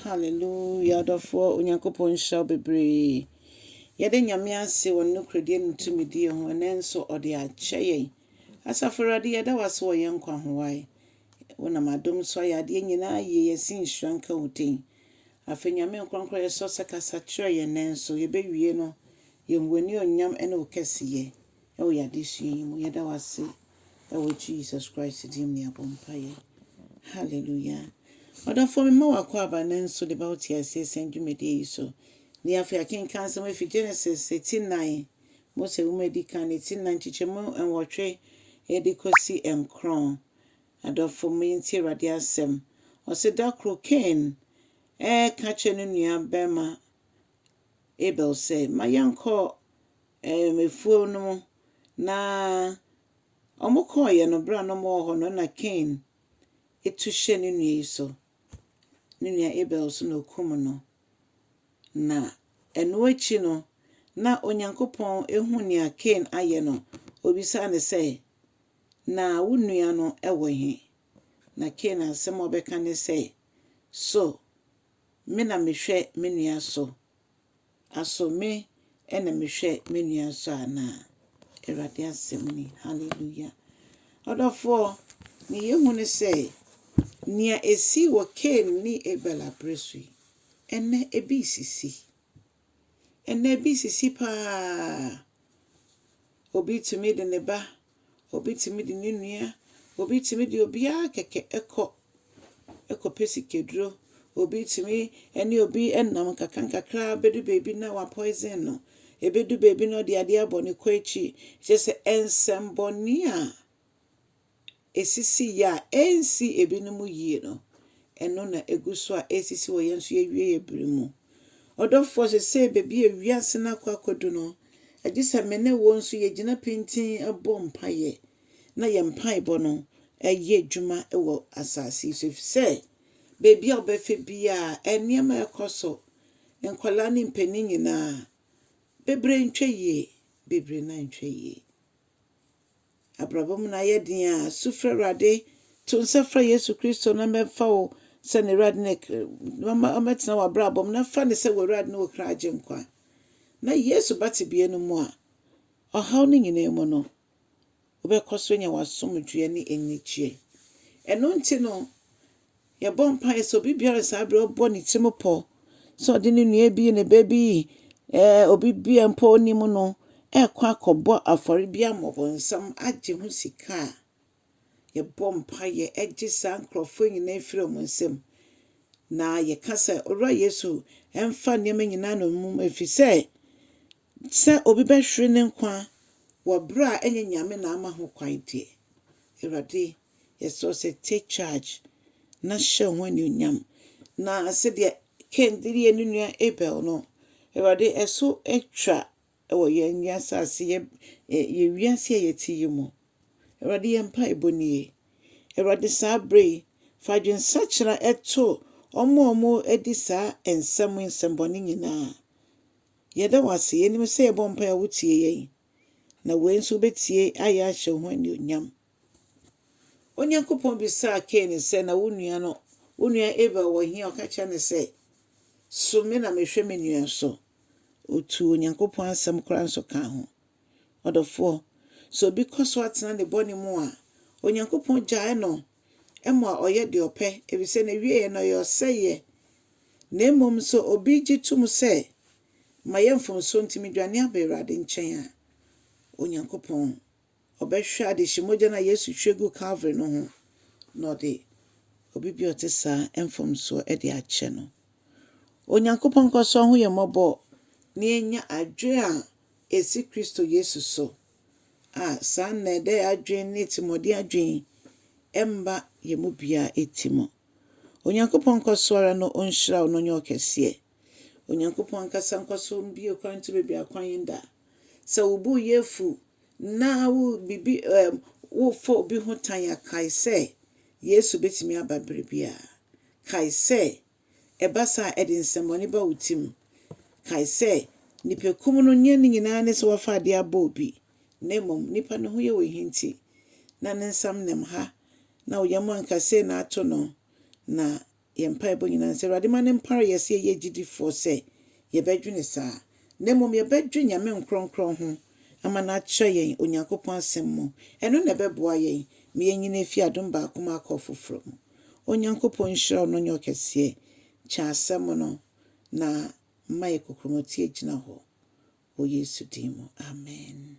Hallelujah ɔdɔfoɔ Onyankopɔn nhyira wo bebree. Yɛde Nyame ase wɔ ne nokorɛdie ne ne tumidie ho ɛnɛ nso ɔde akyɛ yɛn. Asafo Awurade yɛda wo ase wɔ yɛn nkwa ho wae. Wonam adom so ayɛ adeɛ nyinaa yie yɛse nhyira nka wo din. Afei Nyame nkorɔnkorɔ yɛsrɛ wo sɛ kasa kyerɛ yɛn nɛ nso yɛbɛwie no yɛhu w'anionyam ne wo kɛseyɛ. wɔ yɛn adesua yi mu. Yɛda wo ase wɔ Jesus Christ din mu na yɛabɔ mpaeɛ. Hallelujah. Ɔdɔfoɔ mema wakɔ aba no nso de ba wo te aseɛ sɛn dwumadie yi so. Ne afei akenkan nsɛm afi Genesis ti nnan, Mose nwoma edi kan ne ti nnan nkyekyɛmu nwɔtwe de kɔsi nkron. Adɔfo mo yɛntie Awurade asɛm. Ɔse da koro Cain ɛreka kyerɛ ne nua barima Abel sɛ, Ma yɛnkɔ um afuo no mu. Na wɔkɔeɛ no, berɛ a na wɔwɔ hɔ no, na Kain tu hyɛ ne nua yi so, ne nua Abel so, na ɔkum no. Na ɛno akyi no, na Onyankopɔn hu nea Kain ayɛ no, ɔbisaa no sɛ, Na wo nua no wɔ he? Na Kain asɛm a ɔbɛka ne sɛ, So Me na mehwɛ me nua so? Aso me na mehwɛ me nua so anaa? Awurade asɛm ni. Hallelujah. Ɔdɔfoɔ, ne yɛhu ne sɛ, nea ɛsii wɔ Kain ne Abel aberɛ so yi, ɛnnɛ ebi resisi. Ɛnnɛ, bi sisi pa ara a obi tumi de ne ba, obi tumi de ne nua, obi tumi de obiara kɛkɛ kɔ kɔpɛ sikaduro. Obi tumi ne obi nam nkakrankakra ara bɛdu baabi na wapɔesen no. Ɛbɛdu baabi na ɔde adeɛ abɔ ne kɔ akyi. Kyerɛ sɛ, nsɛmmɔne a esisii a ensii ebinom yie no, ɛno na egu so a ɛresisi wɔ yɛn nso yɛn awieeɛ bere mu. Ɔdɔfoɔ, seesei baabi a wiase no akɔ akɔdu no, agye sɛ me ne wo nso yɛgyina pintinn bɔ mpaeɛ na yɛn mpaebɔ no yɛ adwuma wɔ asase yi so. Ɛfiri sɛ, baabi a wobɛhwɛ biara, nneɛma a ɛrekɔ so, nkwadaa ne mpanin nyinaa, bebree ntwa yie, bebree nan ntwa yie. Abrabɔ mu no ayɛ den a, su frɛ Awurade. To nsa frɛ Yesu Kristo na ɔmmɛfa wo sɛ n'Awurade ne ɔma ɔmmɛtena w'abrabɔ mu na fa no sɛ w'Awurade ne wo kra agyenkwa. Na Yesu ba tebea no mu a, ɔhaw no nyinaa mu no, wobɛkɔ so anya w'asomdwoeɛ ne anigyeɛ. Ɛno nti no, Yɛbɔ mpaeɛ sɛ obi biara saa berɛ ɔbɔ ne tirim pɔ sɛ ɔde ne nua bi, ne ba bi, ɛɛ obi bi a mpo ɔnim no ɛrekɔ akɔbɔ afɔre bi ama ɔbɔnsam agye ho sika a, yɛbɔ mpaeɛ ɛgye saa nkurɔfoɔ nyinaa firi wɔn nsam. Na yɛka sɛ, Owura Yesu, ɛmfa nneɛma nyinaa no mmom, ɛfiri sɛ Sɛ obi bɛhwere ne nkwa wɔ berɛ a ɛnyɛ Nyame na ama ho kwan deɛ, Awurade, yɛsrɛ wo sɛ take charge na hyɛ wo ho anuonyam. Na sɛdeɛ Kain de yɛɛ ne nua Abel no, Awurade, ɛso atwa wɔ yɛn wiasase, yɛ, yɛ wiase a yɛte yi mu. Awurade, yɛn mpaebɔ nie. Awurade, saa berɛ yi, fa adwensakyera to wɔn a wɔdi saa nsɛm yi, nsɛmmɔne nyinaa. Yɛda wo ase, yɛnim sɛ yɛbɔ mpae a wotie yɛn, na wei nso wobɛtie ayɛ ahyɛ wo ho anuonyam. Onyankopɔn bisaa Kain sɛ, na wo nua no, wo nua Abel wɔ he? Ɔka kyerɛ no sɛ, so me na mehwɛ me nua so. Ɔtuu Onyankopɔn asɛm koraa nso kaa ho. Ɔdɔfoɔ, sɛ obi kɔ so ara tena ne bɔne mu a, Onyankopɔn gyae no ma ɔyɛ deɛ ɔpɛ, ɛfiri sɛ n'awieeɛ no ɛyɛ ɔsɛeɛ. Na mmom sɛ obi gye to mu sɛ, Mayɛ mfomsoɔ nti medwane aba Awurade nkyɛn a, Onyankopɔn, ɔbɛhwɛ adehye mogya no a Yesu hwie guu Kalvary no ho, na ɔde obi bi a ɔte saa mfomsoɔ de akyɛ no. Onyankopɔn nkɔ so ahu yɛn mmɔbɔ na yɛanya adwene a esi Kristo Yesu so a, saa nnɛɛdɛe adwene ne atirimɔden adwene mma yɛn mu biara ti mu. Onyankopɔn nkɔ so ara na onhyira wo na ɔnyɛ wo kɛseɛ. Onyankopɔn ankasa nkɔ so mbue kwan nto baabi akwan yɛn da. Sɛ wo bo yɛ afu na wo bibi ɛm wofa obi ho tan a, kae sɛ Yesu betumi aba bere biara. Kae sɛ ɛba saa a, ɛde nsɛmmɔne ba wo tirim. Kae sɛ, nnipakum no nyɛ ne nyinaa ne sɛ wɔafa ade abɔ obi, na mmom nnipa no ho yɛ wɔn hinti, na ne nsam nam ha, na wo yam anka sei na ato no. Na yɛn mpaebɔ nyinaa ne sɛ Awurade mma no mpare yɛn sɛ yɛyɛ agyidifoɔ sɛ yɛbɛdwene saa, na mmom yɛbɛdwe Nyame nkorɔnkorɔn ho ama no akyerɛ yɛn Onyankopɔn Asɛm mu. Ɛno na ɛbɛboa yɛn ma yɛanyini afiri adom baako mu akɔ foforɔ mu. Onyankopɔn nhyira a ɔno nye ɔkɛseɛ kyɛn asɛm no na mma yɛ kokromoti agyina hɔ wɔ Yesu din mu amen.